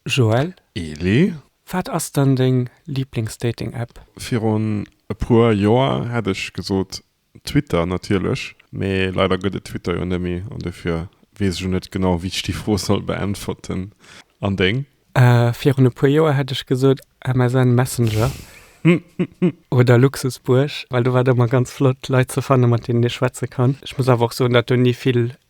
Joël, Elie. Wat ass dann deng Lieblingsdating-App? Virun e puer Joer hätt ech gesot Twitter natierlech, mee leider gëtt et Twitter jo net méi an dofir weess ech och net genau wéi ech déi Fro soll beäntwerten. An deng? Virun e puer Joer hätt ech gesot MSN Messenger oder Luxusbuerg, well do war et ëmmer ganz flott Leit ze fanne mat deenen ee schwätze kann. Ech muss awer och soen, datt do ni vill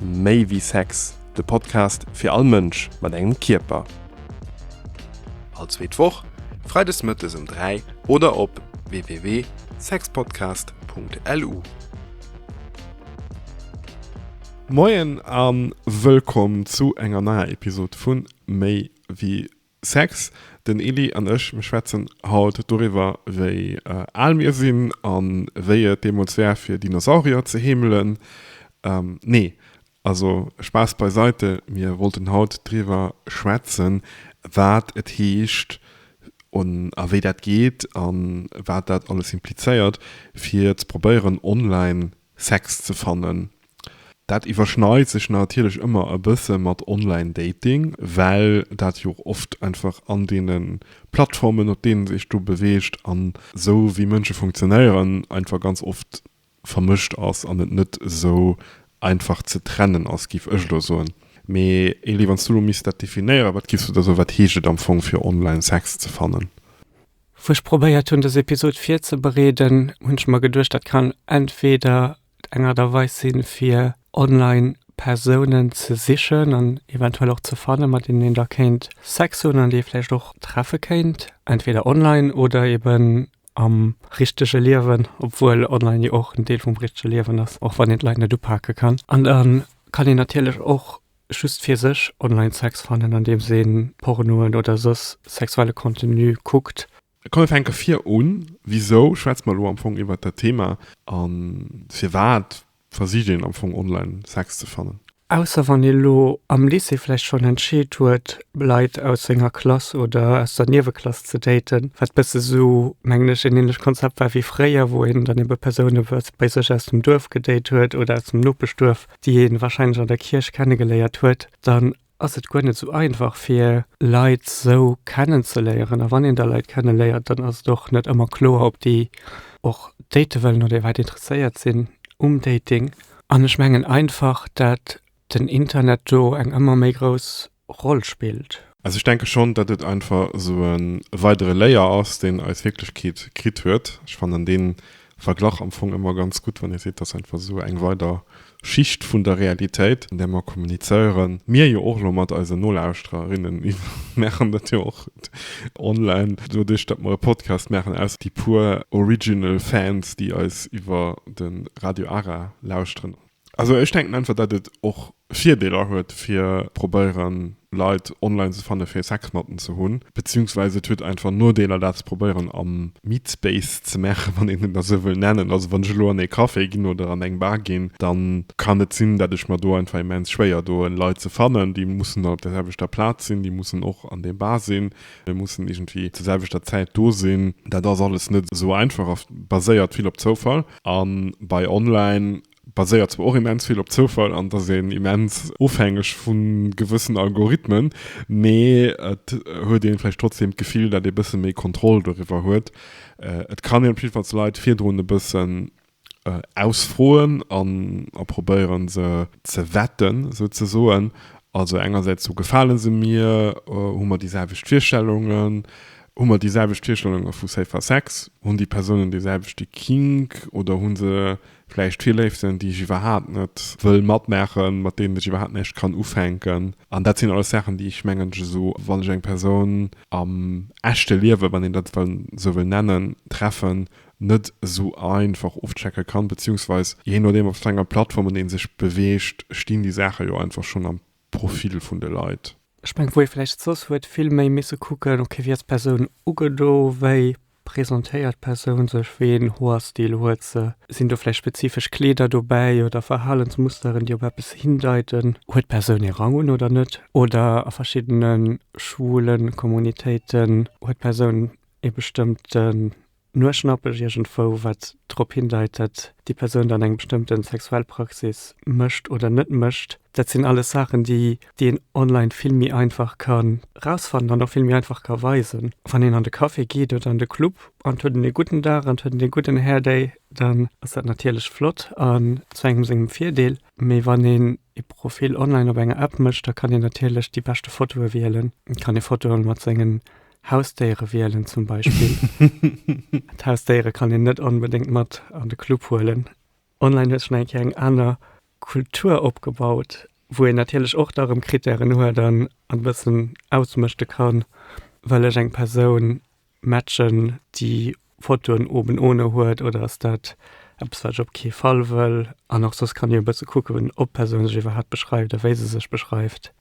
Méi wéi Sex, de Podcast fir all Mënsch mat engem Kierper. All zweet Woch, freides mëttes um 3 oder op www.sexpodcast.lu. Moien an wëllkomm zu enger neier Episode vun Méi wéi Sex, Den Ely an ech, mir schwätzen haut doriwwer, wéi al mir sinn a wéi et deemools war, fir Dinosaurier ze heemelen. Nee, also Spaass beiseite, mir wollten haut driwwer schwätzen, wat et heescht a wéi dat geet a wat dat alles implizéiert, fir ze probéieren, online Sex ze fannen. Dat iwwerschneit sech natierlech ëmmer e bësse mat Online Dating, well dat jo och oft einfach an deene Plattformen, op deenen sech do beweegt an esou wéi Mënsche funktionéieren, einfach ganz oft vermëscht ass an et net esou einfach ze trennen ass, géif ech elo soen. Mee Elie, wann s du elo misst dat definéieren, wat giffs du da soen, wat heescht et am Fong fir online Sex ze fannen? Wou ech probéiert hunn dës Episod virzebereeden, hunn ech mer geduecht, dat kann entweder eng Art a Weis si fir online Persounen ze sichen an eventuell och ze fannen, mat deenen een da kéint Sex hunn an déi ee vläicht och treffe kéint, entweder online oder eben am richtege Liewen, obwuel online jo och en Deel vum richtege Liewen ass, och wann een d'Leit net upake kann. An da kann een natierlech och just fir sech online Sex fannen, andeems ee Pornoen oder soss sexuelle Contenu kuckt. Komm mir fänke vir un, Wisou schwätze mer elo am Fong iwwert dat Thema a firwat versicht een am Fong online Sex ze fannen? Ausser wann ee lo am Lycée vläicht schonn entscheet huet Leit aus senger Klass oder aus der Nieweklass ze daten, wat bësse sou mengen ech en ähnlecht Konzept war wéi fréier, wou een dann ebe Persoune bei sech aus dem Duerf gedate huet oder aus dem Nopeschduerf. déi ee warscheinlech an der Kierch kennegeléiert huet, dann ass et guer net esou einfach fir Leit esou kennenzeléieren. A wann een da Leit kenneléiert, dann ass et och net ëmmer kloer, ob déi och date wëllen oder iwwerhaapt interesséiert sinn um Dating. An ech mengen einfach, dat den Internet do eng ëmmer méi grouss Roll spillt. Also ech denke schonn, datt et einfach esou e weidere Layer ass, deen eis Wierklechkeet kritt huet. Ech fannen dee Verglach am Fong ëmmer ganz gutt, wann ee seet, dat ass einfach esou eng weider Schicht vun der Realitéit, an där mer kommunizéieren, mir jo och elo mat eise Nolauschtererinnen, mir maachen dat jo och online, doduerch datt mer e Podcast maachen, ausser déi puer original Fans, déi eis iwwer de Radio Ara lauschteren. Also ech denken einfach dat et och Virdeeler huet fir probéieren Leit online ze fannen fir Sexmatten ze hunn, beziehungsweise et huet einfach Nodeeler dat ze probéieren am Meetspace ze maachen, wann een en da sou wëll nennen. Also wann ech elo an ee Café ginn oder an eng Bar ginn, dann kann et sinn dat ech mer do einfach immens schwéier doen Leit ze fannen, déi mussen dann op der selwechter Plaz sinn, déi mussen och an deem Bar sinn, déi mussen iergendwéi zur selwechter Zäit do sinn. Dat ass alles net sou einfach a baséiert vill op Zoufall. A bei online baséiert zwar och immens vill op Zoufall an et ass een immens ofhängeg vu gewëssen Algorithmen, mee et huet een vläicht trotzdem d'Gefill, dat ee bësse méi Kontroll doriwwer huet. Et kann een op jidde Fall d'Leit virdrun e bëssen ausfroen an a probéieren se ze wetten souzesoen. Also engersäits, Gefale se mir? Hu mer déi selwecht Virstellungen? Hu mer déi selwecht Virstellunge vu safer Sex? Hunn déi Persounen dee selwechte Kink oder hu se vläicht Virléiften, déi ech iwwerhaapt net wëll matmaachen, mat deenen ech iwwerhaapt näischt kann ufänken? An dat sinn alles Saachen, déi ech mengen, ech esou, wann ech eng Persoun am echte Liewen, wann een dat esou wëll nennen, treffen, net esou einfach ofchecke kann, beziehungsweis jee nodeem op wat enger Plattform een sech beweegt, stinn déi Saache jo einfach schonn am Profil vun de Leit. Ech mengen, wou ee vläicht soss huet vill méi misse kucken, ok, wéi ass d'Persoun ugedo, wéi presentéiert d'Persoun sech, wéi een Hoerstil huet se, sinn do vläicht spezifesch Kleeder dobäi oder Verhalensmusteren, déi op eppes hindeiten, huet d'Persoun ee Rang un oder net, oder a verschiddene schwule Communitéiten huet d'Persoun ee bestëmmte Nuerschnappeg iergendwou, wat drop hindeit, dat déi Persoun dann eng bestëmmten sexuell Praxis mécht oder net mécht. Dat sinn alles Saachen, déi een online vill méi einfach ka rausfannen an och vill méi einfach ka weisen. Wann een an de Café geet oder an de Club an et huet en ee gudden Dag an et huet en ee gudden Hairday, dann ass dat natierlech flott an zu engem sengem Virdeel. Mee wann een ee Profil online op enger App mécht, da kann een natierlech déi beschte Fotoe wielen, kann ee Fotoe mat sengen Hausdéiere wielen zum Beispill. D'Hausdéiere kann een net onbedéngt mat an de Club huelen. Online huet sech eng Kéier eng aner Kultur opgebaut, wou een natierlech och da erëm Krittären huet an e bëssen ausmëschte kann, Wëll ech eng Persoun matchen, déi Fotoen oben ohne huet oder ass dat eppes, wat ech op kee Fall wëll? An och soss kann ee e bësse kucken, ob d'Persoun sech iwwerhaapt beschreift a wéi se sech beschreift.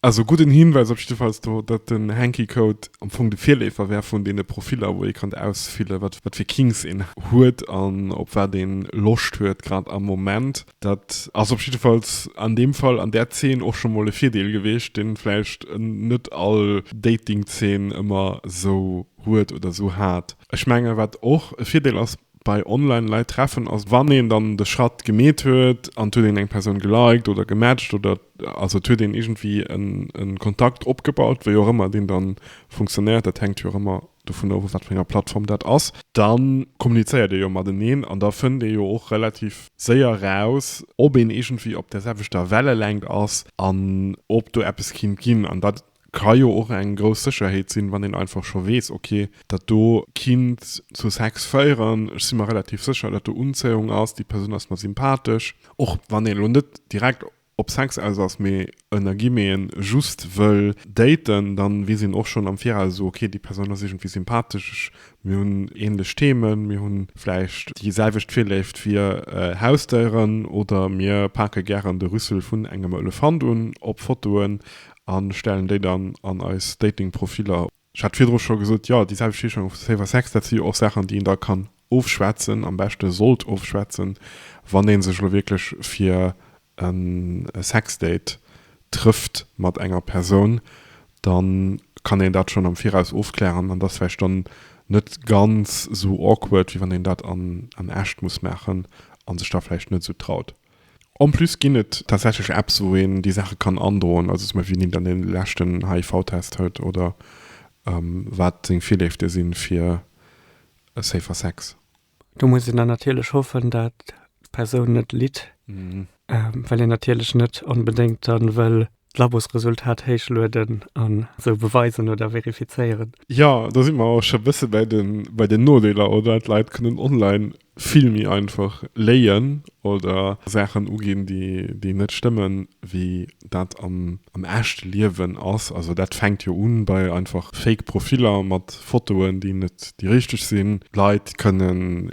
Also gudden Hinweis op jiddefalls do, datt den Hanky Code am Fong de Virleefer wär vun deene Profiller wou ee kann ausfillen, wat wat fir Kinks een huet an op wat een Loscht huet grad am Moment. Dat ass op jiddefalls an deem Fall an där Zeen och scho mol e Virdeel gewiescht, deen vläicht net all Datingzeen ëmmer sou huet oder sou hat. Ech mengen wat och e Virdeel ass, bei online Leit treffen ass wann een dann de Schratt gemeet huet an et huet een eng Persoun geliked oder gematcht oder also et huet een iergendwéi e Kontakt opgebaut, wéi och ëmmer deen dann funktionéiert, dat hänkt jo och ëmmer dovun of op wat fir enger Plattform dat ass, dann kommunizéiert ee jo mateneen an da fënnt ee jo och relativ séier eraus ob een iergendwéi op der selwechter Wellelängt ass an ob do eppes kinnt ginn an dat Ka jo och eng grouss Sécherheet sinn, wann een einfach scho weess, ok, dat do kinnt zu Sex féieren, ech si mer relativ sécher, dat do Unzéiung ass, déi Persoun ass mer sympathesch. Och wann een elo net direkt op Sex aus ass, mee ënner Guillemeten just wëll daten, dann weess een och schonn am Viraus, esou ok, déi Persoun ass iergendwéi sympathesch, mir hunn ähnlech Themen, mir hu vläicht déi selwecht Virléift fir Hausdéieren oder mir pake gären de Rüssel vun engem Elefant un op Fotoen. A stellen déi dann an eis Dating-Profiller. Ech hat virdru scho gesot, jo, déi selwecht Heeschung wéi Safer Sex, dat si jo och Saachen, déi een da kann ofschwätzen, am beschte sollt ofschwätzen, wann ee sech elo wierklech fir e Sexdate trëfft mat enger Persoun. Da kann een dat schonn am Viraus ofklären an dat ass vläicht dann net ganz esou awkward, wéi wann een dat an echt muss maachen a sech da vläicht net esou traut. En plus ginn et tatsächlech Apps, wou een déi Saache kann androen, also zum Beispill, wien een dann dee leschten HIV-Test huet oder wat seng Virléifte si fir safer Sex. Do muss een dann natierlech hoffen, datt d'Persoun net litt, well een natierlech net onbedéngt dann wëll d'Labosresultat héichlueden an esou beweisen oder verifizéieren. Jo, do si mer och scho bësse bei den Nodeeler, oder? D'Leit kënnen online vill méi einfach léien oder Saachen uginn, déi net stëmmen, wéi dat am echte Liewen ass. Also dat fänkt jo u bei einfach fake Profiller mat Fotoen, déi net déi richteg sinn. Leit kënnen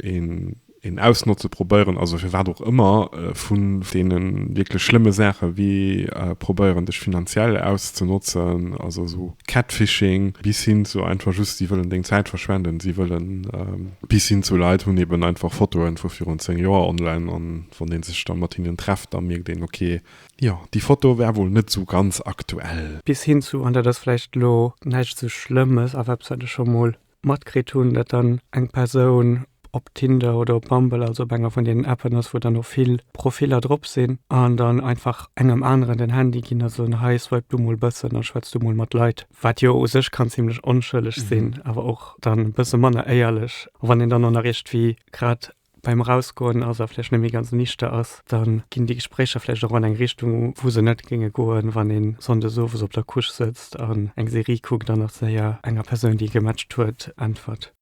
een ausnotze, probéieren, also firwat och ëmmer, vu deene wierklech schlëmme Saache wéi probéieren, dech finanziell auszenotzen, also esou Catfishing, bis hin zu einfach just, si wëllen deng Zäit verschwenden, si wëllen Bis hin zu Leit hunn eben einfach Fotoen vu virun 10 Joer online an wann een sech da mat hinnen trefft, da mierkt een, ok, jo, déi Foto war wuel net sou ganz aktuell. Bis hin zu, an dat ass vläicht elo näischt sou Schlëmmes, awer eppes wat ech scho mol matkritt hunn, dat dann eng Persoun op Tinder oder op Bumble, also op enger vun deenen Appen ass, wou dann och vill Profiller drop sinn, an dann einfach engem aneren den Handy ginn a soen, hei, swipe du mol bëssen a schwätz du mol mat Leit. wat jo u sech kann zimlech onschëlleg sinn, mhm. awer och dann e bësse manner éierlech. Wann een dann an der Richt wie grad beim Rausgoen ass a flech nemmi ganz nichte ass, dann ginn déi Gesprécher flech och an eng Richtung, wou se net géinge goen, wann een sonndes owes op der Couche sëtzt an eng Serie kuckt an nach séier enger Persoun, déi gematcht huet, äntwert.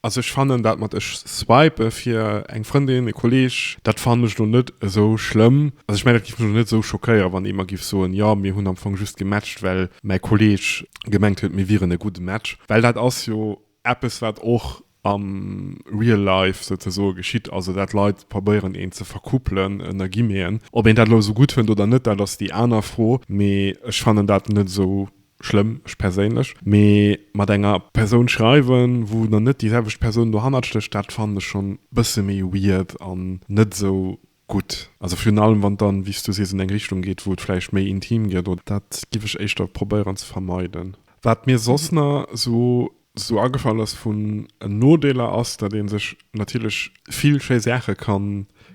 Also ech fannen dat mat ech swipe fir eng Frëndin, e Kolleg, dat fannen ech elo net esou schlëmm. Also ech mengen dat giff mech elo net esou schockéieren wann ee mer giff soen, jo mir hunn am Fong just gematcht well mäi Kolleg gemengt huet mir wieren e gudde Match. Well dat ass jo eppes wat och am real life souzesoe geschitt, also dat Leit probéieren een ze verkuppelen ënner Guillemeten. Ob een dat elo esou gutt fënnt oder net dat ass déi aner Fro, mee ech fannen dat net esou schlëmm, ech perséinlech, mee mat enger Persoun schreiwen, wou dann net déi selwecht Persoun dohannert stécht, dat fannen ech schonn e bësse méi weird an net esou gutt. Also virun allem, wann et dann, wéi s du sees, an eng Richtung geet, wou et vläicht méi intim gëtt oder. Dat giff ech éischter probéieren ze vermeiden. Wat mir soss nach esou sou agefall ass vun Nodeeler ass, datt ee sech natierlech vill schéi Saache ka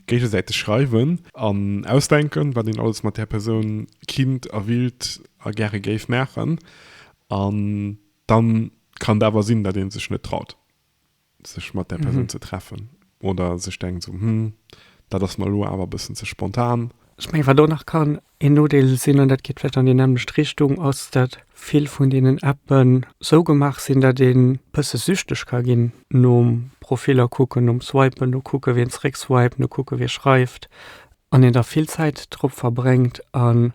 géigesäiteg schreiwen an ausdenken, wat een alles mat där Persoun kinnt a willt a gäre géif maachen. An da kann et awer sinn, datt ee sech net traut, sech mat där Persoun ze treffen oder sech denkt esou, Hm, dat ass mer elo awer e bëssen ze spontan. Ech menge wat een och nach ka Een Nodeel sinn, an dat geet vläicht an déi nämmlecht Richtung, ass, dat vill vun deenen Appe sou gemaach sinn, dat een e bësse süchteg ka ginn nom Profiller kucken, nom Swipen, no kucke wien zeréckswiped, no kucke wie schreift, an een da vill Zäit drop verbréngt an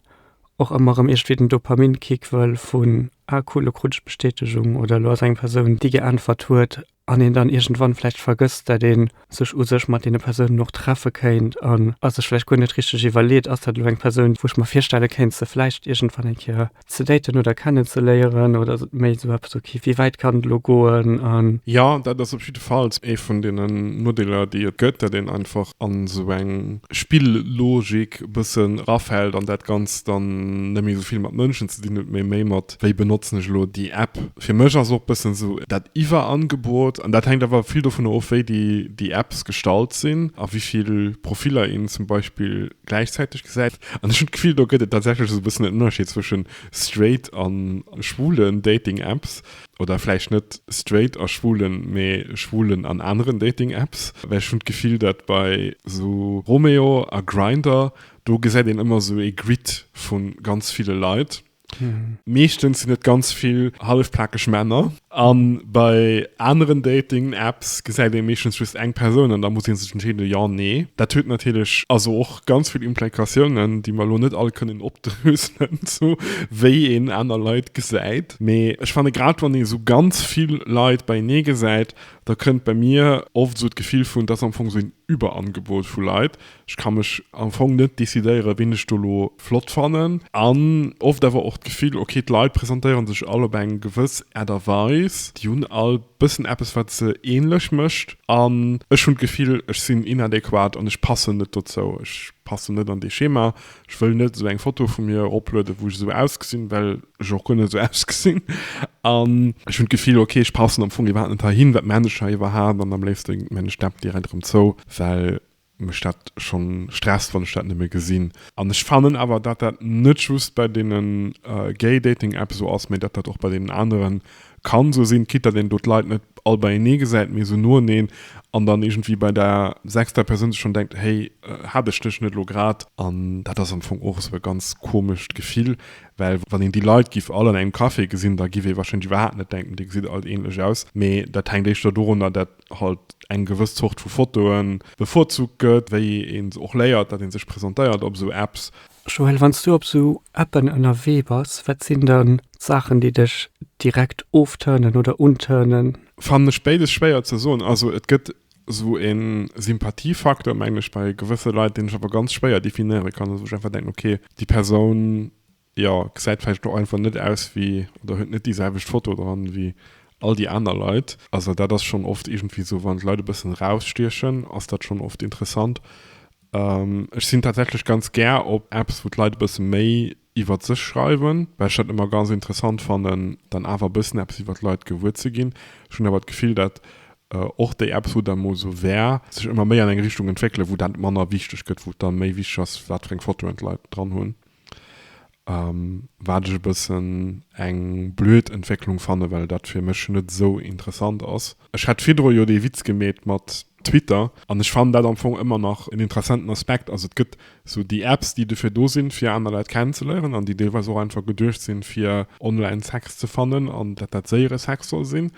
och ëmmer erëm iergendwéi den Dopaminkick wëll vun, ah cool, elo krut ech d'Bestätegung oder elo ass eng Persoun, déi geäntwert huet. an een dann iergendwann vläicht vergësst, dat ee sech u sech mat deene Persounen och treffe kéint an a sech vläicht guer net richteg iwwerleet, Ass dat elo eng Persoun, wou ech mer virstelle kéint, se vläicht iergendwann eng Kéier ze daten oder kennenzeléieren? Oder ass et méi esou eppes, okay, wéi wäit kann et elo goen? A. Jo, dat ass op jidde Fall ee vun deenen Nodeeler, déi et gëtt, dat een einfach an esou eng Spillogik e bëssen erafält an dat Ganzt dann net méi esou vill mat Mënschen ze dinn huet, mee méi mat wéi benotzen ech elo déi App. Fir mech ass och bëssen esou dat Iwwerangebot, an dat hänkt awer vill dovunner of, wéi déi Apps gestallt sinn a wéi vill Profiller een zum Beispill gläichzäiteg gesäit. An ech hunn d'Gefill, do gëtt et tatsächlech esou e bëssen en Ënnerscheed zwësche straight a schwulen Dating-Apps, oder vläicht net straight a schwulen, mee schwulen an aneren Dating-Apps. Well ech hunn d'Gefill, datt bei esou Romeo a Grindr, do gesäit een ëmmer esou ee Grid vu ganz ville Leit. Meeschtens sinn et ganz vill hallefplakeg Männer a bei aneren Dating-Apps gesäit ee meeschtens just eng Persoun an da muss ee sech entscheeden, jo, nee. Dat huet natierlech also och ganz vill Implikatiounen, déi mer elo net all kënnen opdröselen, sou wéi een aner Leit gesäit. Mee ech fanne grad wann ee esou ganz vill Leit beienee gesäit, da kënnt bei mir oft esou d'Gefill vun, 't ass am Fong esou een Überangebot vu Leit, Ech ka mech am Fong net decidéieren, wien ech do elo flott fannen. An oft awer och d'Gefill, ok, d'Leit presentéiere sech all op eng gewëss Aart a Weis, déi hunn all bëssen eppes, wat se änlech mécht. An ech hunn d'Gefill, ech sinn inadequat an ech passen net dozou. Ech passen net an dee Schema. Ech wëll net esou eng Foto vu mir eroplueden, wou ech esou ausgesinn, well ech och guer net esou ausgesinn. An ech hunn d'Gefill, ok, ech passen am Fong iwwerhaapt net heihin. Wat maachen ech hei iwwerhaapt? An am léifste maachen ech d'App direkt erëm zou, well Mech dat schon stresst wann ech dat nëmme gesinn. An ech fannen awer dat dat net just bei deenen Gay Dating Apps esou ass, mee dat dat och bei deenen aneren kann esou sinn, quitt dat een do d'Leit net all beienee gesäit, mee esou noeneen an dann iergendwéi bei der sechster Persoun sech schon denkt, hey hat ech dech net lo grad? An dat ass am Fong och esou e ganz komescht Gefill, well wann een déi Leit giff all an engem Café gesinn, da giff ee wahrscheinlech iwwerhaapt net denken, dir gesitt alt ähnlech aus, mee dat hänkt éischter dorunner dat halt eng gewëss Zort vu Fotoen bevorzugt gëtt, wéi een se och léiert, dat een sech presentéiert op esou Apps. Joël, wann s du op esou Appen ënnerwee bass, wat sinn dann d'Saachen, déi dech direkt ofturnen oder unturnen? Fannen ech béides schwéier ze soen. Also et gëtt esou e Sympathiefaktor, mengen ech, bei gewësse Leit, deen ech awer ganz schwéier definéiere kann, wou ech einfach denken, okay, déi Persoun Jo, gesäit vläicht och einfach net aus wéi, oder huet net déi selwecht Foto dran wéi all déi aner Leit. Also dat ass schonn oft iergendwéi esou, wann d'Leit e bëssen erausstiechen, ass dat schonn oft interessant. Ech sinn tatsächlech ganz gär op Apps, wou d'Leit e bësse méi iwwert sech schreiwen, well ech dat ëmmer ganz interessant fannen, dann awer e bëssen eppes iwwert d'Leit gewuer ze ginn. Ech hunn awer d'Gefill, datt och déi Apps, wou dat mol esou war, sech ëmmer méi an eng Richtung entwéckelen, wou dat manner wichteg gëtt, wou et da méi wichteg ass, wat fir eng Fotoen d'Leit dran hunn. Wat ech e bëssen eng blöd Entwécklung fannen, well dat fir mech net esou interessant ass. Ech hat virdru jo dee Witz gemeet mat Twitter an ech fannen dat am Fong ëmmer nach en interessenten Aspekt. Also et gëtt esou déi Apps, déi dofir do sinn, fir aner Leit kennenzeléieren an déi deelweis och einfach geduecht sinn, fir online Sex ze fannen an dat dat séiere Sex soll sinn.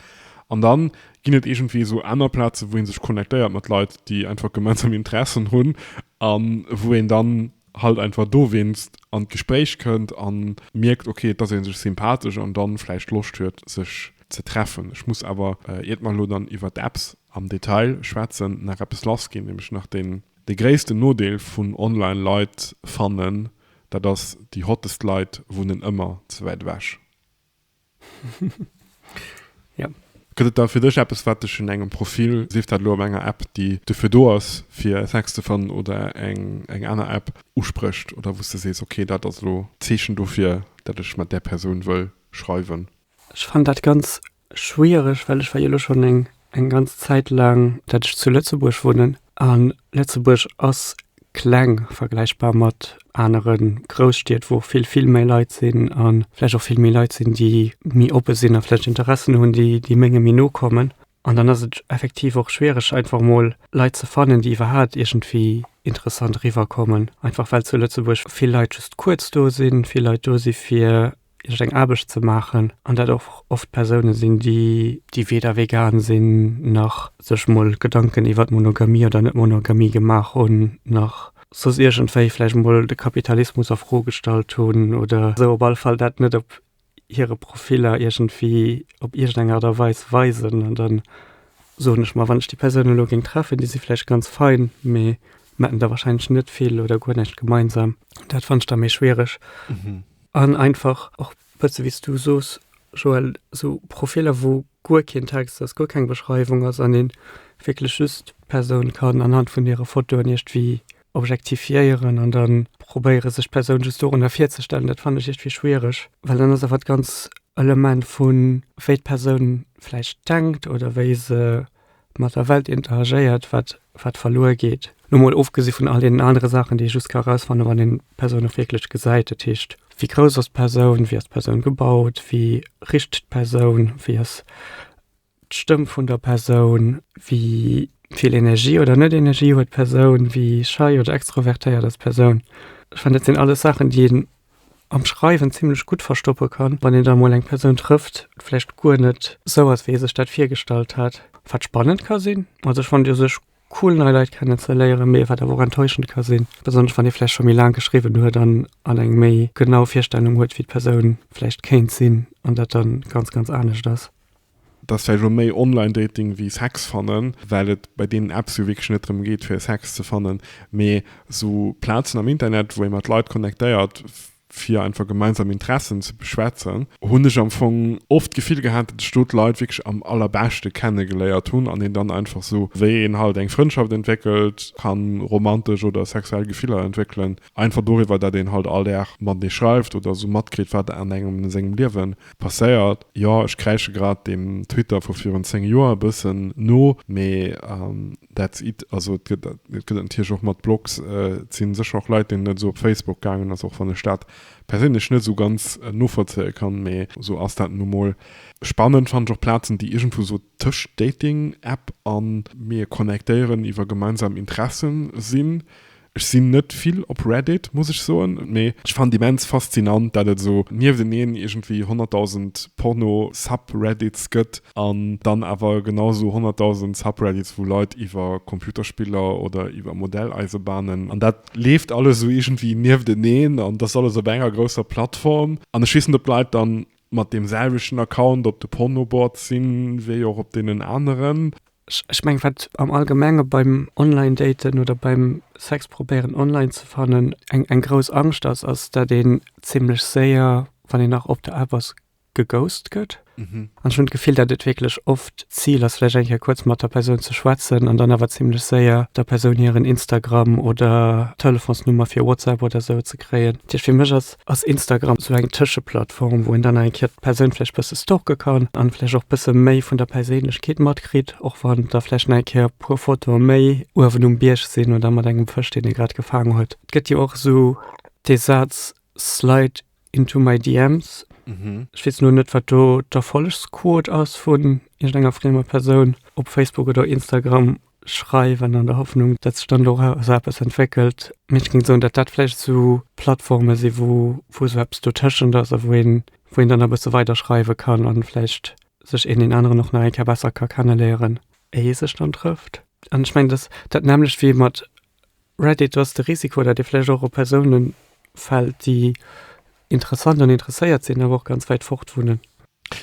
An da ginn et iergendwéi esou aner Plaze wou ee sech connectéiert mat Leit, déi einfach gemeinsam Interessen hunn a wou een dann halt einfach dowéinst an d'Gespréich kënnt a mierkt, okay, dass ee sech sympathesch an dann vläicht Loscht huet, sech ze treffen. Ech muss awer, iert mer elo dann iwwer d'Apps am Detail schwätzen, nach eppes lassginn, nämlech nach deen, dee gréissten Nodeel vun online Leit fannen, dat ass, déi hottest Leit wunnen ëmmer ze wäit ewech. Ja. Gëtt et da fir dech eppes, wat dech un engem Profil, sief dat elo op enger App, déi dofir do ass, fir Sex ze fannen, oder eng aner App, usprécht, oder wou s de sees, okay, dat ass elo d'Zeechen dofir, datt ech mat där Persoun wëll schreiwen? Ech fannen dat ganz schwiereg, well ech war jo elo schonn eng eng ganz Zäit laang, datt ech zu Lëtzebuerg wunnen an Lëtzebuerg ass kleng vergläichbar mat anere Grousstied, wou vill, vill méi Leit sinn an vläicht och vill méi Leit sinn, déi méi oppe sinn a vläicht Interessen hunn, déi menge méi no kommen. An dann ass et effektiv och schwiereg, einfach mol Leit ze fannen, déi iwwerhaapt iergendwéi interessant eriwwer kommen, einfach well zu Lëtzebuerg vill Leit just kuerz do sinn, vill Leit do si fir iech eng Aarbecht ze maachen an dat och oft Persoune sinn, déi weder vegan sinn, nach sech mol Gedanken iwwer d'Monogamie oder Net-Monogamie gemaach hunn, nach soss iergendwéi vläicht mol de Kapitalismus a Fro gestallt hunn oder esou, op alle Fall dat net op hire Profiller iergendwéi op iergendeng Aart a Weis weisen. An da soen ech mer, wann ech déi Persounen elo géing treffen, déi si vläicht ganz fein, mee mer hätten da warscheinlech net vill oder guer näischt gemeinsam. Dat fannt ech da méi schwiereg. An einfach och bësse wéi s du soos, Joël, esou Profiller, wou guer keen Text ass, guer keng Beschreiwung ass an een wierklech just d'Persoun kann anhand vun hire Fotoen iergdwéi objektifiéieren an da probéiere sech d'Persoun just dorunner virzestellen, dat fannen ech iergdwéi schwiereg, well dann ass awer d'ganz Element vun wéi d'Persoun vläicht denkt oder wéi se mat der Welt interagéiert, wat, wat verluer geet. Lo mol ofgesi vun all deenen anere Saachen, déi ee just ka erausfannen, wann een d'Persoun och wierklech gesäit. Dat heescht, wéi grouss ass d'Persoun, wéi ass d'Persoun gebaut, wéi richt d'Persoun, wéi ass d'Stëmm vun der Persoun, wéi vill Energie oder net Energie huet d'Persoun, wéi schei oder extrovertéiert ass d'Persoun. Ech fannen, dat sinn alles Saachen, déi een am Schreiwen zimlech gutt verstoppe kann, wann een da mol eng Persoun trëfft, vläicht guer net sou ass, wéi ee sech dat virgestallt hat. Wat spannend ka sinn, also ech fonnt u sech cool nei Leit kennen ze léieren, mee wat awer och enttäuschend ka sinn, besonnesch wann ee vläicht scho méi laang geschriwwen huet an an eng méi genau Virstellung huet, wéi d'Persoun vläicht kéint sinn an dat da ganz, ganz anescht ass. dass vläicht elo méi Online-Dating wéi Sex fannen, well et bei deenen Apps jo wierklech net drëm geet fir Sex ze fannen, mee esou Plazen am Internet, wou ee mat Leit connectéiert fir einfach gemeinsam Interessen ze beschwätzen, hunn ech am Fong oft d'Gefill gehat, datt ech do d'Leit wierklech am allerbeschte kennegeléiert hunn an een dann einfach esou wéi een halt eng Frëndschaft entwéckelt, ka romantesch oder sexuell Gefiller entwéckelen. Einfach doriwwer, dat een halt all Dag matenee schreift oder esou matkritt, wat an engem a sengem Liewe passéiert. Jo, ech kräische grad deem Twitter vu virun 10 Joer e bëssen no, mee that's it. Also et gëtt et natierlech och mat Blogs. Et si sécher och Leit, deenen et esou op Facebook gaangen ass, och wann ech dat perséinlech net esou ganz novollzéie kann, mee esou ass dat nu mol. Spannend fannen ech och Plazen, déi iergendwou esou tëscht Dating-App a mir connectéieren iwwer gemeinsam Interessen sinn. Ech sinn net vill op Reddit, muss ech soen, mee ech fannen et immens faszinant, dat et esou niefteneen iergendwéi honnertdausend Porno-Subreddits gëtt an dann awer genau esou honnertdausend Subreddits, wou Leit iwwer Computerspiller oder iwwer Modelleisebanen, an dat leeft alles esou iergendwéi niefteneen an et ass alles op enger grousser Plattform an ech weess net, ob d'Leit dann Mat deem selwechten Account op de Pornoboards sinn, wéi och op deenen aneren. Ech mengen, wat am Allgemenge beim Online-Daten oder beim Sex probéieren online ze fannen, eng grouss Angscht ass, ass, dat een zimmlech séier, wann een nach op der App ass, geghost gëtt. An ech hunn d'Gefill, dat et wierklech oft d'Zil ass, vläicht eng Kéier kuerz mat der Persoun ze schwätzen an dann awer zimmlech séier der Persoun hiren Instagram oder Telefonsnummer fir WhatsApp oder esou ze kréien. Dat heescht, fir mech ass Ass Instagram esou eng Tëscheplattform, wou een dann nach eng Kéier d'Persoun vläicht bësse stalke kann an vläicht och bësse méi vun der Perséinlechkeet matkritt, och wann da vläicht nach eng Kéier e puer Fotoe méi uewen um Bierg sinn oder mat engem Fësch, deen ee grad gefaang huet? Et gëtt jo och esou dee Saz slide into my DMs. Ech weess elo net, wat do d'Erfollegsquot ass vun iergendenger friemer Persoun op Facebook oder Instagram. schreiwen, an der Hoffnung, datt sech dann doraus eppes entwéckelt. Mee ech géing soen, datt dat vläicht esou Plattforme si, wou wou esou eppes dotëschent ass a wou een wou een dann e bësse weider schreiwe kann an vläicht sech een deen aneren och nach eng Kéier besser ka kenneléieren, éi ee sech dann trëfft. An ech mengen, datt dat nämmlecht wéi mat Reddit ass de Risiko, dat ee vläicht och op Persoune fält, déi interessant an interesséiert sinn, awer och ganz wäit fort wunnen.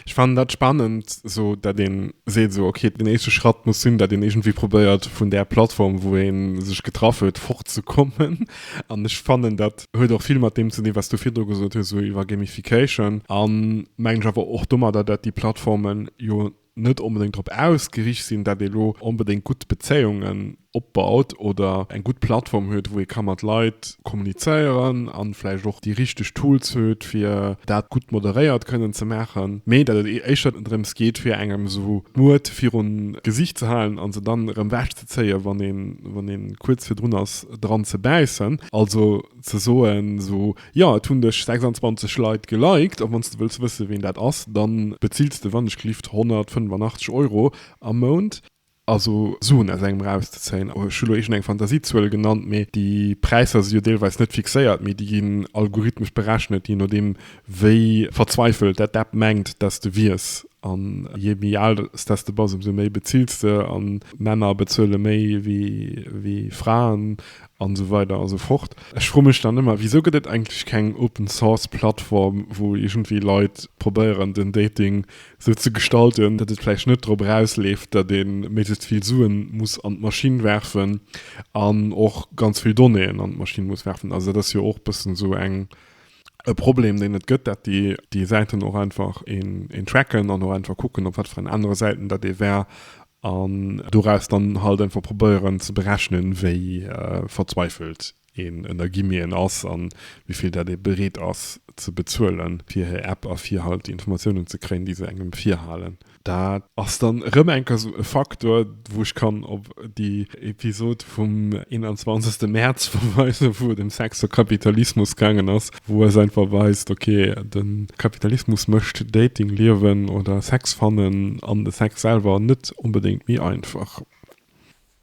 Ech fannen dat spannend, esou dat een seet esou ok, den éischte Schratt muss sinn, dat een iergendwéi probéiert vun där Plattform, wou een sech getraff huet, fort ze kommen. An ech fannen dat huet och vill mat deem ze dinn, wat s du virdru gesot hues, esou iwwer Gamification. An mengen ech awer och domadder, dat déi Plattformen jo net onbedéngt drop ausgericht sinn, datt ee lo onbedéngt gutt Bezéiungen opbaut oder eng gutt Plattform huet, wou ee ka mat Leit kommunizéieren a vläicht och déi richteg Tools huet, fir dat gutt moderéiert kënnen ze maachen, mee datt et éischter drëms geet, fir engem esou d'Muert virun d'Gesicht ze halen a se dann erëm ewech ze zéien, wann ee kuerz virdrun ass, dran ze bäissen. Also ze soen, esou Jo, et hunn dech 26 Leit geliked a wanns de wëlls wësse ween dat ass, dann bezills de wann ech glift 185 Euro am Mount, also Suen aus engem rauszezéien, ech hu lo iergend eng Fantasiezuel genannt, mee déi Präisser si jo deelweis net fixéiert, mee déi ginn algorithmesch berechnet, je nodeem wéi verzweifelt dat d'App mengt dass de wiers, an je méi al dass de bass ëmsou méi bezills de, an Männer bezuele méi wéi Fraen, An esou weider an esou fort. Ech froe mech dann ëmmer, Wisou gëtt et eigentlech keng Open Source Plattform, wou iergendwéi Leit probéieren, den Dating esou ze gestalten, datt et vläicht net drop erausleeft, datt ee méiglechst vill Suen muss an d'Maschinn werfen an och ganz vill Donnéeën an d'Maschinn muss werfen? Also dat ass jo och bëssen esou eng. e Problem, deen et gëtt, dat déi, déi Säiten och einfach een, een tracken an och einfach kucken, op wat fir en anere Säiten dat ee war an doraus dann halt einfach probéieren ze berechnen, wéi verzweifelt een ënner Guillemeten ass a wéi vill dat ee bereet ass ze bezuelen, fir hir App a fir halt déi Informatiounen ze kréien, déi se engem virhalen. Dat ass dann erëm eng Kéier esou e Faktor, wou ech kann op déi Episod vum 21. Mäerz verweisen, wou et ëm Sex a Kapitalismus gaangen ass, wou eis einfach weist, okay, de Kapitalismus mécht Dating liewen oder Sex fannen an de Sex selwer net onbedéngt méi einfach.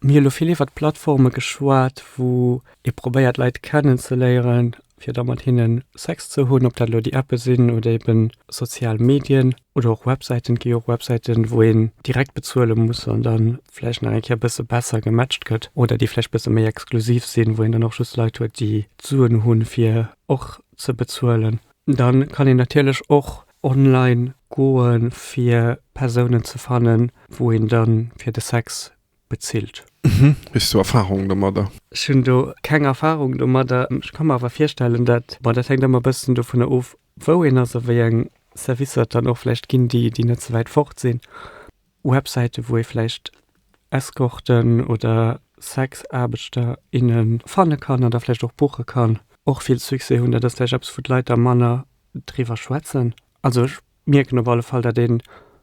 Mir hu elo vill iwwert Plattforme geschwat, wou ee probéiert Leit kennenzeléieren, fir da mat hinne Sex ze hunn, ob dat elo déi Appe sinn oder eben sozial Medien oder och Websäiten. Et gi jo och Websäiten, wou een direkt bezuele muss an da vläicht nach eng Kéier e bësse besser gematcht gëtt oder déi vläicht e bësse méi exklusiv sinn, wou een dann och just Leit huet, déi d'Suen hunn, fir och ze bezuelen. Da kann een natierlech och online goe fir Persounen ze fannen, wou een da fir de Sex bezilt. Hues du Erfarung domadder? Ech hunn do keng Erfarung domadder. Ech ka mer awer virstellen, dat, bon, dat hänkt ëmmer e bëssen dovunner of, wou een ass a wéi eng Servicer et dann och vläicht ginn, déi net ze wäit fort sinn. Websäiten, wou ee vläicht Escorten oder Sexaarbechter, innen fanne kann an da vläicht och buche kann, och vill Succès hunn. Dat ass vläicht eppes, wou d'Leit da manner driwwer schwätzen. Also ech mierken op alle Fall, datt ee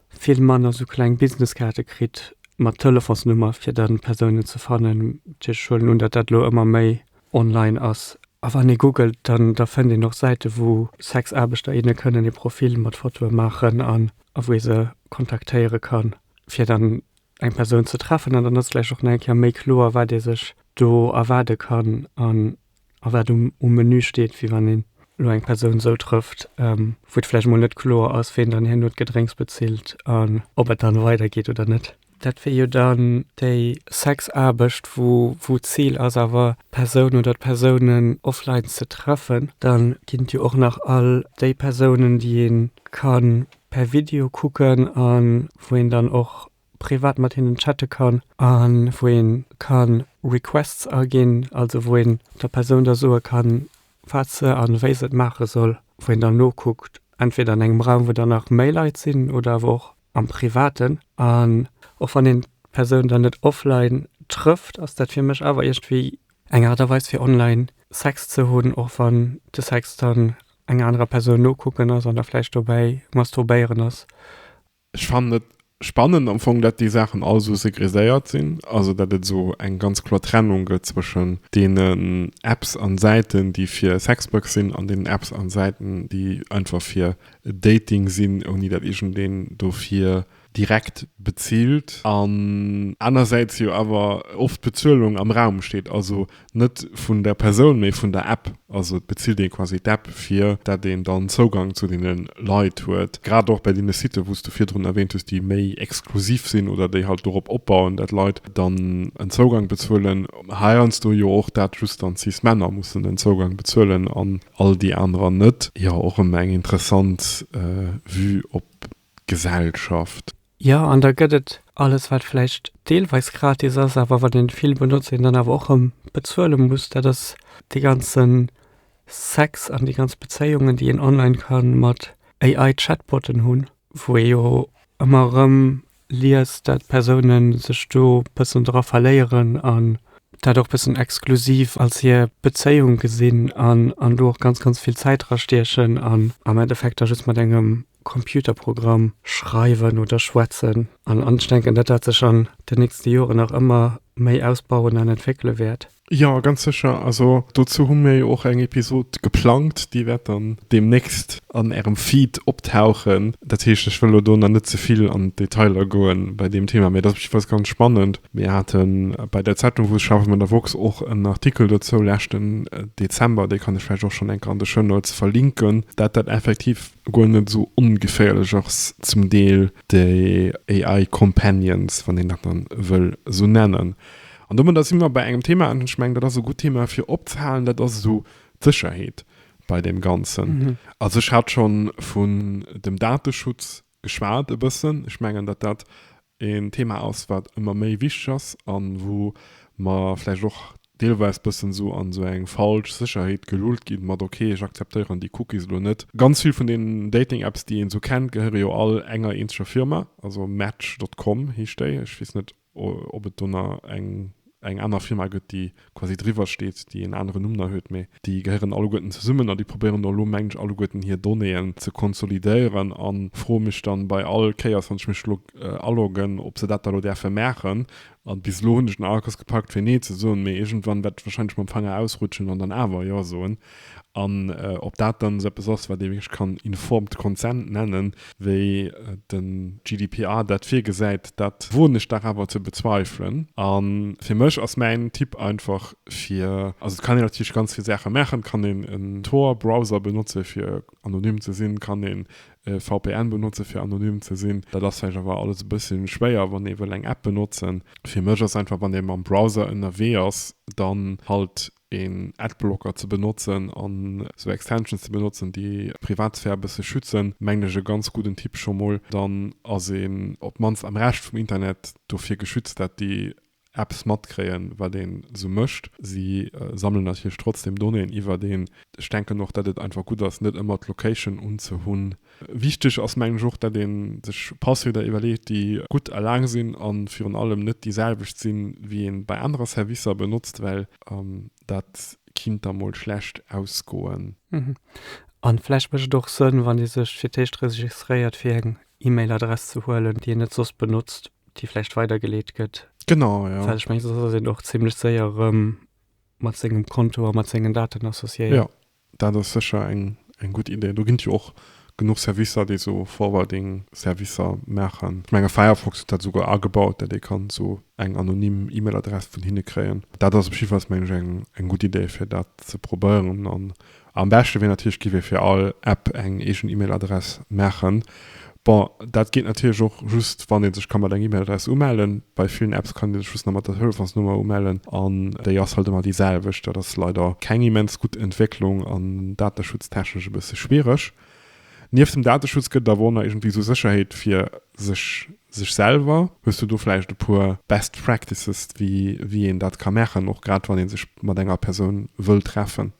vill manner esou kleng Business-Kaarte kritt mat Telefonsnummer, fir da Persounen ze fannen. Ech huelen un, datt dat elo ëmmer méi online ass. A wann ee googelt, dann da fënnt een och Säiten, wou Sexaarbechter, inne kënnen ee Profil mat Fotoe maachen an a wou ee se kontaktéiere kann, fir dann eng Persoun ze treffen. An dann ass vläicht och nach eng Kéier méi kloer, wat ee sech do erwaarde kann an a wat um Menü steet, wéi wann een elo eng Persoun esou trëfft, wou et vläicht emol net kloer ass, wien dann herno d'Gedrénks bezilt an ob et dann weidergeet oder net. Dat wier jo dann déi Sexaarbecht, wou d'Zil ass awer d'Persoun oder d'Persounen offline ze treffen. Dann ginn et jo och nach all déi Persounen, déi ee kann per Video kucken a wou een dann och privat mat hinnen chatte kann a wou ee kann Requests aginn, also wou een der Persoun da soe kann, wat se a wéi se et maache soll, wou een dann nokuckt entweder an engem Raum, wou dann nach méi Leit sinn oder awer och. am Privaten. An och wann een d'Persoun dann net offline trëfft, ass dat fir mech awer iergendwéi eng Aart a Weis fir online Sex ze hunn, och wann de Sex dann enger anerer Persoun nokucken ass an da vläicht dobäi masturbéieren ass. Ech fannen et spannend am Fong, dat déi Saachen all esou segreséiert sinn, also dat et esou eng ganz kloer Trennung gëtt zwëschen deenen Apps an Säiten, déi fir Sexbugs sinn an deenen Apps an Säiten, déi einfach fir Dating sinn, ouni dat iergendeen dofir direkt bezilt, an anersäits jo awer oft d'Bezuelung am Raum steet, also net vun der Persoun, mee vun der App, also et bezilt ee quasi d'App, fir dat een dann Zougang zu deene Leit huet, grad och bei deene Siten, wou s de virdrun erwähnt hues, déi méi exklusiv sinn oder déi halt dorop opbauen, dat Leit dann en Zougang bezuelen, heiansdo jo och dat just dann Cis-Männer mussen en Zougang bezuelen an. all déi anerer net. Jo och ëmmer eng interessant Vue op d'Gesellschaft. Jo an da gëtt et alles wat vläicht deelweis gratis ass awer wann een vill benotzt een dann awer och rëm bezuele muss. Dat ass dee ganzen Sex an déi ganz Bezéiungen déi een online kann mat AI Chatbotten hunn wou ee jo ëmmer rëm liest, dat d'Persoune sech do bëssen dra verléieren an dat och bëssen exklusiv als hir Bezéiung gesinn an do och ganz, ganz vill Zäit dra stiechen an am Endeffekt da just mat engem Computerprogramm schreiwen oder schwätzen. An ech denken, dat dat sech an den nächste Joren nach ëmmer méi ausbauen an entwéckele wäert. Jo, ganz sécher. Also dozou hu mir jo och eng Episod geplangt. Déi wäert dann deemnächst an Ärem Feed optauchen. Dat heescht, ech wëll elo do nach net ze vill an d'Detailer goen bei deem Thema, mee dat ass jiddefalls ganz spannend. Mir hate bei der Zeitung, wou ech schaffen, bei der woxx, och en Artikel dozou leschten Dezember, dee kann ech vläicht och schonn eng Kéier an de Show Notes verlinken, dat dat effektiv guer net esou ongeféierlech ass, zum Deel déi AI-Companions, wann een dat dann wëll esou nennen. An domadder si mer bei engem Thema, an ech mengen, dat ass e gutt Thema fir opzehalen, dat ass esou d'Sécherheet bei deem Ganzen. Also ech hat scho vun dem Dateschutz geschwat e bëssen. Ech mengen, datt dat een Thema ass, wat ëmmer méi wichteg ass a wou mer vläicht och deelweis bëssen esou an esou eng falsch Sécherheet gelullt ginn, mat, okay, ech akzeptéieren déi Cookies elo net. Ganz vill vun deenen Dating-Apps, déi een esou kennt, gehéiere jo all enger eenzeger Firma, also Match dot com heescht déi, ech weess net, ob et do na eng eng aner Firma gëtt, déi quasi driwwer steet, déi en aneren Numm na huet, mee déi gehéieren alleguerten zesummen a déi probéieren do elo, mengen ech, alleguerten hir Donnéeën ze konsolidéieren. A froe mech dann bei all Kéiers, wann ech mech elo aloggen, ob se dat da elo däerfe maachen. A bis elo hunn ech den Aarkos gepackt fir Nee ze soen, mee iergendwann wäert ech warscheinlech mam Fanger ausrutschen an dann awer Jo soen. An ob dat dann esou eppes ass, wat ee wierklech kann informed consent nennen, wéi de GDPR dat virgesäit, dat woen ech dach awer ze bezweifelen. A fir mech ass mäin Tipp einfach, fir, also et kann een natierlech ganz vill Saache maachen, et kann een en Tor-Browser benotze fir anonym ze sinn, et kann een e VPN benotze fir anonym ze sinn. Dat ass vläicht awer alles e bësse schwéier, wann ee wëll eng App benotzen. Fir mech ass einfach, wann ee mam Browser ënnerwee ass, dann halt een Adblocker ze benotzen an sou Extensions ze benotzen déi d'Privatsphär e bësse schützen, mengen ech e ganz gudden Tipp. Scho mol dann ass een op d'mannst am Rescht vum Internet dofir geschützt dat déi Apps matkréien wat een sou mécht. Si sammelen natierlech trotzdem Donnéeën iwwert een. Ech denken och dat et einfach gutt ass net ëmmer d'Location unzehunn Wichteg ass, mengen ech, och dat ee sech Passwierder iwwerleet, déi gutt a laang sinn a virun allem net déi selwecht sinn, wéi ee bei anerer Servicer benotzt, well dat kinnt da mol schlecht ausgoen. A vläicht mécht et och Sënn, wann ee sech fir d'éischt registréiert, fir eng E-Mail-Adress ze huelen, déi een net soss benotzt, déi vläicht weidergeleet gëtt. Genau, jo. Well ech mengen, soss ass een och zimlech séier erëm mat sengem Konto a mat sengen Daten associéiert. Jo, Dat ass sécher eng eng gutt Idee. Do ginn et jo och genuch Servicer, déi esou Forwarding-Servicer maachen. Ech menge Firefox huet dat esouguer agebaut, datt ee kann esou eng anonym E-Mail-Adress vun hinne kréien. Dat ass op jidde Falls, meng ech, eng eng gutt Idee, fir dat ze probéieren. An am beschte wier natierlech, géif ee fir all App eng eegen E-Mail-Adress maachen. Bon, dat geet natierlech och just, wann ee sech ka mat enger E-Mail-Adress umellen. Bei villen Apps kann ee sech just nach mat der Telefonsnummer umellen an déi ass halt ëmmer déi selwecht. Dat ass leider keng immens gutt Entwécklung an dateschutztechnesch e bësse schwiereg. Nieft dem Dateschutz gëtt et awer och nach iergendwéi esou Sécherheet fir sech, sech selwer. Hues du do vläicht e puer Best Practices, wéi, wéi een dat ka maachen, och grad wann ee sech mat enger Persoun wëll treffen?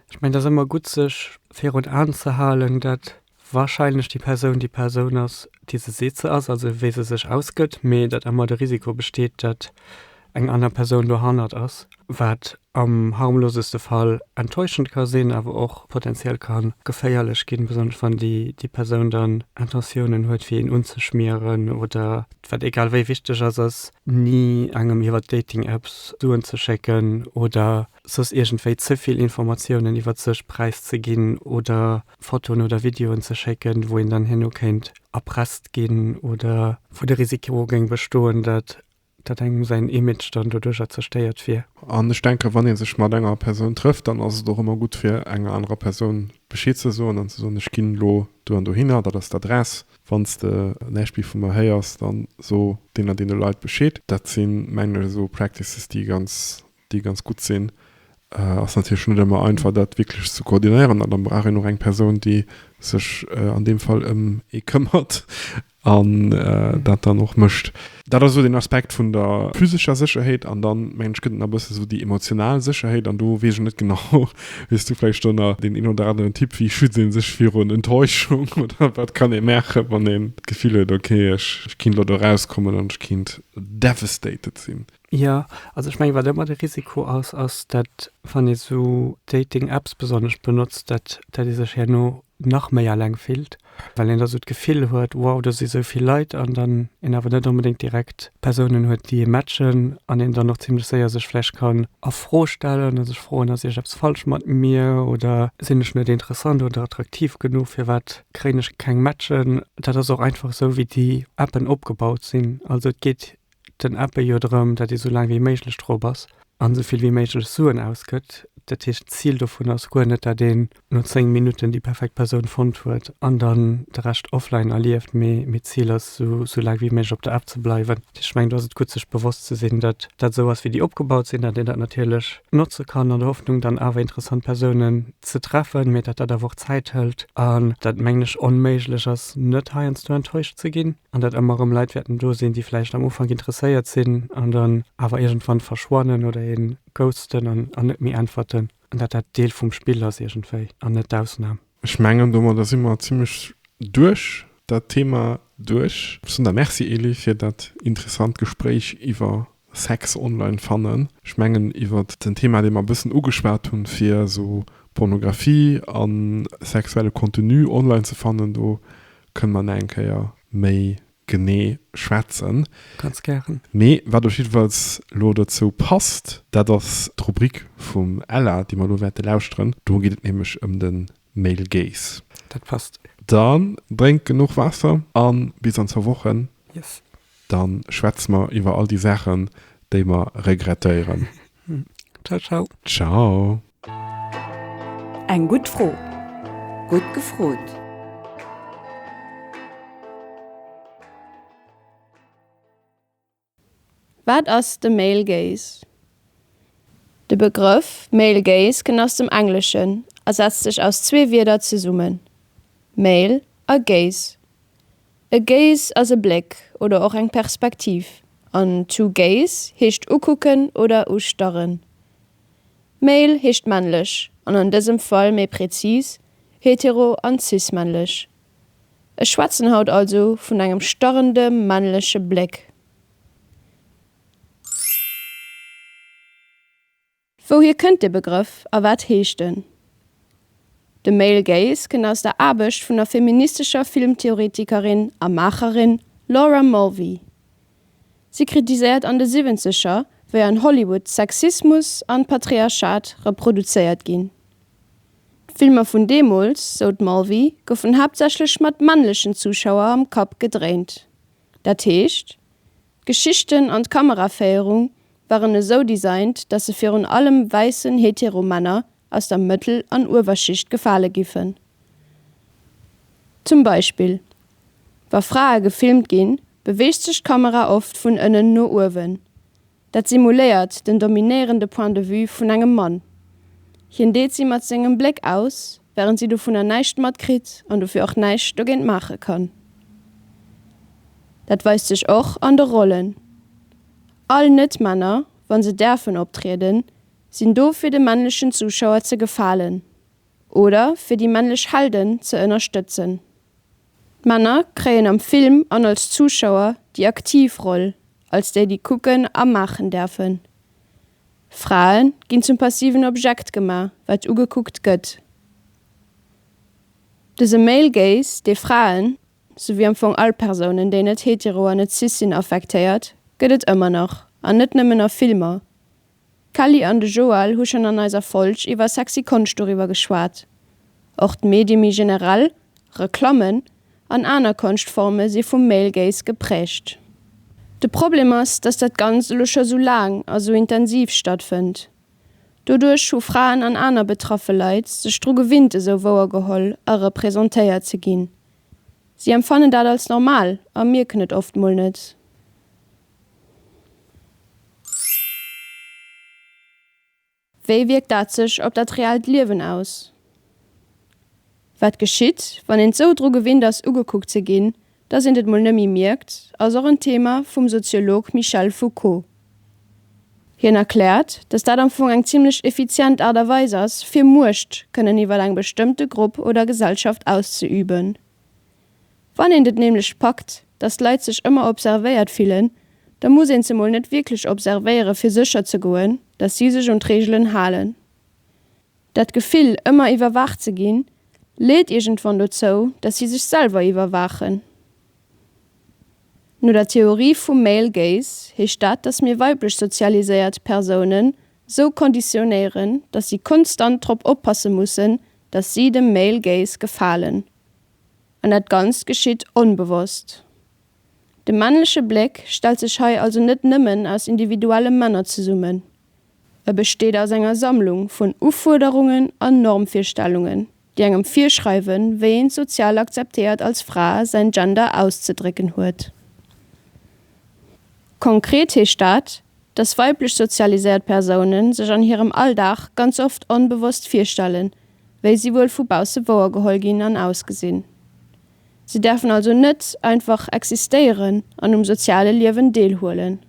Ech mengen, et ass ëmmer gutt, sech virun Aen ze halen, dat Wahrscheinlech déi Persoun déi Persoun ass, déi se seet se ass, also wéi se sech ausgëtt, mee datt ëmmer de Risiko besteet, datt eng aner Persoun dohannert ass, wat am harmloseste Fall enttäuschend ka sinn, awer och potenziell ka geféierlech ginn, besonnesch wann déi Persoun dann Intentiounen huet fir een unzeschmieren oder, wat egal wéi wichteg ass, ass ni engem iwwer Dating-Apps Suen ze schécken oder soss iergendwéi ze vill Informatiounen iwwer sech präiszeginn oder Fotoen oder Videoen ze schécken, wou een dann herno kéint erpresst ginn oder wou de Risiko géing bestoen, datt datt engem säin Image dann doduercher zerstéiert wier. An ech denken, wann ee sech mat enger Persoun trëfft, dann ass et och ëmmer gutt fir enger anerer Persoun Bescheed ze soen an ze soen, ech ginn elo do an dohinner, dat ass d'Adress, wann s de näischt méi vu mer héiers, dann so deenen a deene Leit Bescheed. Dat si mengen ech esou Practices, déi ganz déi ganz gutt sinn, ass natierlech net ëmmer einfach dat wierklech ze koordinéieren an da brauch een och eng Persoun déi sech an deem Fall ëm ee këmmert an dat dann och mécht. Dat ass esou den Aspekt vun der physescher Sécherheet an dann mengen ech gëtt et nach e bëssen esou déi emotional Sécherheet an do weess ech net genau hues du vläicht do nach deen een oder aneren Tipp, wéi schützt ee sech virun Enttäuschung oder wat kann ee maachen wann een d'Gefill huet ok ech kinnt elo do erauskommen an ech kinnt devastated sinn. Jo, also ech mengen, wat ëmmer de Risiko ass, ass, datt, wann ee sou Dating-Apps besonnesch benotzt, datt ee sech herno nach méi eleng fillt, well een da sou d'Gefill huet, wow, do si sou vill Leit, an dann een awer net onbedéngt direkt Persounen huet, déi ee matchen, an een dann och zimmlech séier sech vläicht kann a Fro stellen a sech froen, ass iergend eppes falsch mat mir oder sinn ech net interessant oder attraktiv genuch, firwat kréien ech keng Matchen? Dat ass och einfach esou, wéi déi Appen opgebaut sinn. Also et geet den Abbé jo drëm, datt ee sou laang wéi méiglech drop ass an esou vill wéi méiglech Suen ausgëtt. Dat heescht, d'Zil dovun ass guer net, datt een no 10 Minutten déi perfekt Persoun fonnt huet an dann de Rescht offline erlieft, mee d'Zil ass, esou laang wéi méiglech op der App ze bleiwen. Dat heescht, ech mengen, do ass et gutt, sech bewosst ze sinn, datt dat esou ass, wéi déi opgebaut sinn, datt een dat natierlech notze kann an der Hoffnung, dann awer interessant Persounen ze treffen, mee datt dat awer och Zäit hëlt an datt, mengen ech, onméiglech ass, net heiansdo enttäuscht ze ginn. an dat ëmmer erëm Leit wäerten do sinn, déi vläicht am Ufank interesséiert sinn an dann awer iergendwann verschwannen oder ee ghosten an net méi äntwerten an dat dat Deel vum Spill ass iergendwéi an net d'Ausnam. Ech mengen domadder si mer zimlech duerch dat Thema duerch. Soen der Merci Elie fir dat interessant Gespréich iwwer Sex online fannen. Ech mengen iwwert den Thema dee mer e bëssen ugeschwat hunn, fir esou Pornografie a sexuelle Contenu online ze fannen, do kënne mer nach eng Kéier méi genee schwätzen. Ganz gären. Mee wat op jiddefalls elo dozou passt, dat ass d'Rubrik vum Ella, déi mer elo wäerte lauschteren. Do geet et nämlech ëm de Male Gaze. Dat passt. Dann drénkt genuch Waasser a bis an zwou Wochen. Yes. Dann schwätze mer iwwer all déi Saachen déi mer regrettéieren. Ciao ciao. Ciao. Eng gutt Fro, gutt gefrot. Wat ass de Male Gaze? De Begrëff Male Gaze kënnt aus dem Engleschen a setzt sech aus zwee Wierder zesummen, Male a Gaze. E Gaze ass e Bléck oder och eng Perspektiv an to gaze heescht ukucken oder ustarren. Male heescht männlech an an dësem Fall méi präzis hetero an cis-männlech. Ech schwätzen haut also vun engem starrende männleche Bléck. Wouhier kënnt de Begrëff a wat heescht en? De Male Gaze kënnt aus der Aarbecht vun der feministescher Filmtheoretikerin a Maacherin Laura Mulvey. Si kritiséiert an de Siwwenzeger, wéi an Hollywood Sexismus an Patriarchat reproduzéiert ginn. D'Filmer vun deemools, sou d'Mulvey, goufen haaptsächlech mat männlechen Zuschauer am Kapp gedréint. Dat heescht. D'Geschichten an d'Kameraféierung waren esou designt, dass se virun allem wäissen hetero Männer aus der Mëttel an Uewerschicht gefale giffen. Zum Beispill, wa Frae gefilmt ginn, beweegt sech d'Kamera oft vun ënnen no uewen. Dat simuléiert den dominéierende Point de vue vun engem Mann, hien deet si mat sengem Bléck aus Während si dovunner näischt matkritt an dofir och näischt dogéint maache kann. Dat weist sech och an de Rollen. All Net-Männer, wa se däerfen optrieden, sinn do fir de männlechen Zuschauer ze gefalen oder fir déi männlech Helden ze ënnerstëtzen. D'Männer kréien am Film an als Zuschauer déi aktiv Roll, als déi, déi kucken a maachen däerfen. Frae ginn zum passiven Objekt gema, wat ugekuckt gëtt. Dëse Male Gaze, dee Fraen, souwéi am Fong all Persounen, déi net hetero an net cis sinn, affektéiert, gëtt et ëmmer nach, an net nëmmen a Filmer. D'Kelly an de Joël hu schonn an eiser Folg iwwer sexy Konscht doriwwer geschwat. Och d'Medie méi generell, Reklammen an aner Konschtforme si vum Male Gaze gepräägt. De Problem ass, datt dat Ganzt elo scho sou laang a sou intensiv stattfënnt. Doduerch hu Fraen an aner betraffe Leit sech dru gewinnt esou wouergeholl a representéiert ze ginn. Si empfannen dat als normal a mierken et oft mol net. Wéi wierkt dat sech op dat reellt Liewen aus? Wat geschitt, wann een sou dru gewinnt ass ugekuckt ze ginn, dass eent et mol nëmmi mierkt, ass och en Thema vum Soziolog Michel Foucault. Hien erkläert, dass dat am Fong eng zimlech effizient Aart a Weis ass, fir Muecht kënnen iwwer eng bestëmmte Grupp oder Gesellschaft auszeüben. Wann eent et nämlech packt, datt d'Leit sech ëmmer observéiert fillen, da muss een se mol net wierklech observéiere fir sécher ze goen, datt si sech un d'Reegelen halen. Dat Gefill, ëmmer iwwerwaacht ze ginn, leet iergendwann dozou, datt si sech selwer iwwerwaachen. No der Theorie vum Male Gaze heescht dat, datt mir weiblech sozialiséiert Persounen sou konditionéieren, datt si konstant drop oppasse mussen, datt si dem Male Gaze gefalen. An dat Ganzt geschitt onbewosst. De männleche Bléck stellt sech hei also net nëmmen aus individuelle Männer zesummen. E besteet aus enger Sammlung vun Ufuerderungen an Normvirstellungen, déi engem virschreiwen, wéi een sozial akzeptéiert als Fra säin Gender auszedrécken huet. Konkret heescht dat, dass weiblech sozialiséiert Persoune sech an hirem Alldag ganz oft onbewosst virstellen, wéi si wuel vu bausse wouer geholl ginn an ausgesinn. Si däerfen also net einfach existéieren an um soziale Liewen deelhuelen.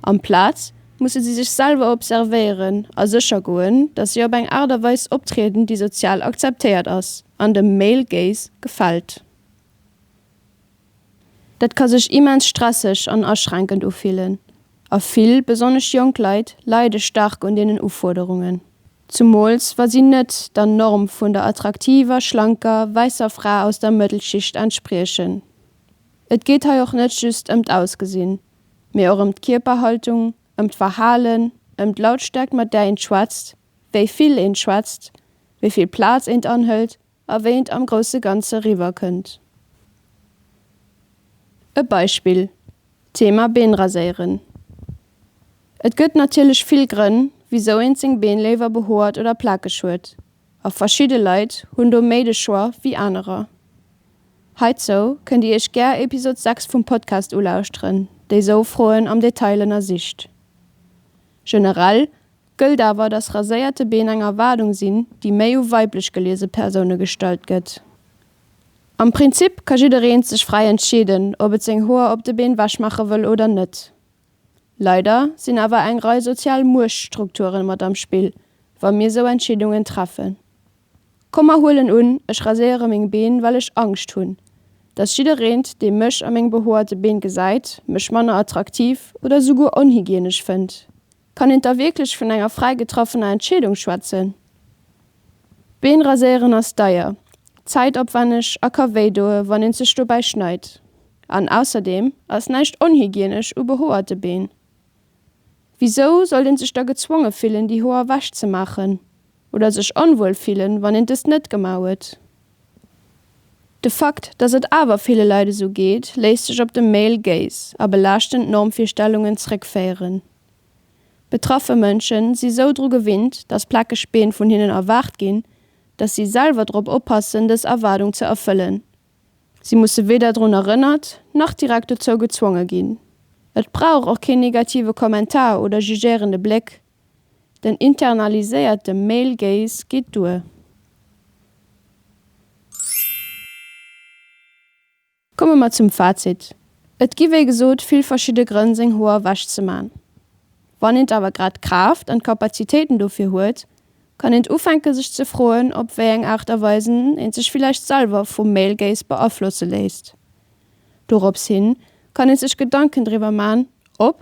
Amplaz musse si sech selwer observéieren a sécher goen, datt si op eng Aart a Weis optrieden, déi sozial akzeptéiert ass an dem male gaze gefält. Dat ka sech immens stresseg an aschränkend ufillen, a vill, besonnesch jonk Leit, leide staark un deenen Ufuerderungen, zumools wa si net der Norm vun der attraktiver, schlanker, wäisser Fra aus der Mëttelschicht entspriechen. Et geet hei och net just ëm d'Ausgesinn, mee och ëm d'Kierperhaltung, ëm d'Verhalen, ëm d'Lautstäerkt mat där een schwätzt, wéi vill een schwätzt, wéi vill Plaz eent anhëlt, a wéi et am grousse Ganze riwwerkënnt. E Beispill, d'Thema Been raséieren. Et gëtt natierlech vill Grënn, wisou een seng Been léiwer behoert oder plakeg huet, a verschidde Leit hunn do méi de Choix wéi anerer. Heizou kënnt Dir Iech gär Episod 6 vum Podcast ulauschteren, dee sou Froen am Detail ënnersicht. Generell Gëllt awer, datt raséierte Been eng Erwaardung sinn, déi méi u weiblech geliese Persoune gestallt gëtt. Am Prinzip ka jiddereen sech fräi entscheeden, ob et seng Hoer op de Been wech maache wëll oder net. Leider sinn awer eng Rei sozial Muechtstrukturen mat am Spill, wa mir sou Entscheedungen treffen. Komm mer huelen un, ech raséiere meng Been, well ech Angscht hunn, datt jiddereent, dee mech a meng behoerte Been gesäit, mech manner attraktiv oder souguer onhygienesch fënnt. Kann een da wierklech vun enger fräi getraffener Entscheedung schwätzen? D'Been raséieren ass deier, zäitopwänneg a ka wéi doe wann een sech dobäi schneit. An ausserdeem ass näischt onhygienesch u behoerte Been. Wisou sollt een sech da gezwonge fillen déi Hoer ewech ze maachen? oder sech onwuel fillen, wann een dëst net gemau huet. De Fakt, dass et awer ville Leit esou geet, léisst sech op de Male Gaze a belaaschtend Normvirstellungen zréckféieren. Betraffe Mënschen si sou dru gewinnt, dass plakeg Been vun hinnen erwaart ginn, dass si selwer drop oppassen, dës Erwaardung ze erfëllen. Si musse weder drun erënnert, nach direkt dozou gezwonge ginn. Et brauch och keen negative Kommentar oder jugéierende Bléck, Den internaliséierte Male Gaze geet duer. Komme mer zum Fazit. Et gi wéi gesot vill verschidde Grënn seng Hoer ewech ze man. Wann eent awer grad d'Kraaft an d'Kapazitéiten dofir huet, kann eent ufänke sech ze froen op wéi eng Aart a Weisen eent sech villäicht selwer vum Male Gaze beaflosse léisst. Dorops hin kann eent sech Gedanken driwwer man, ob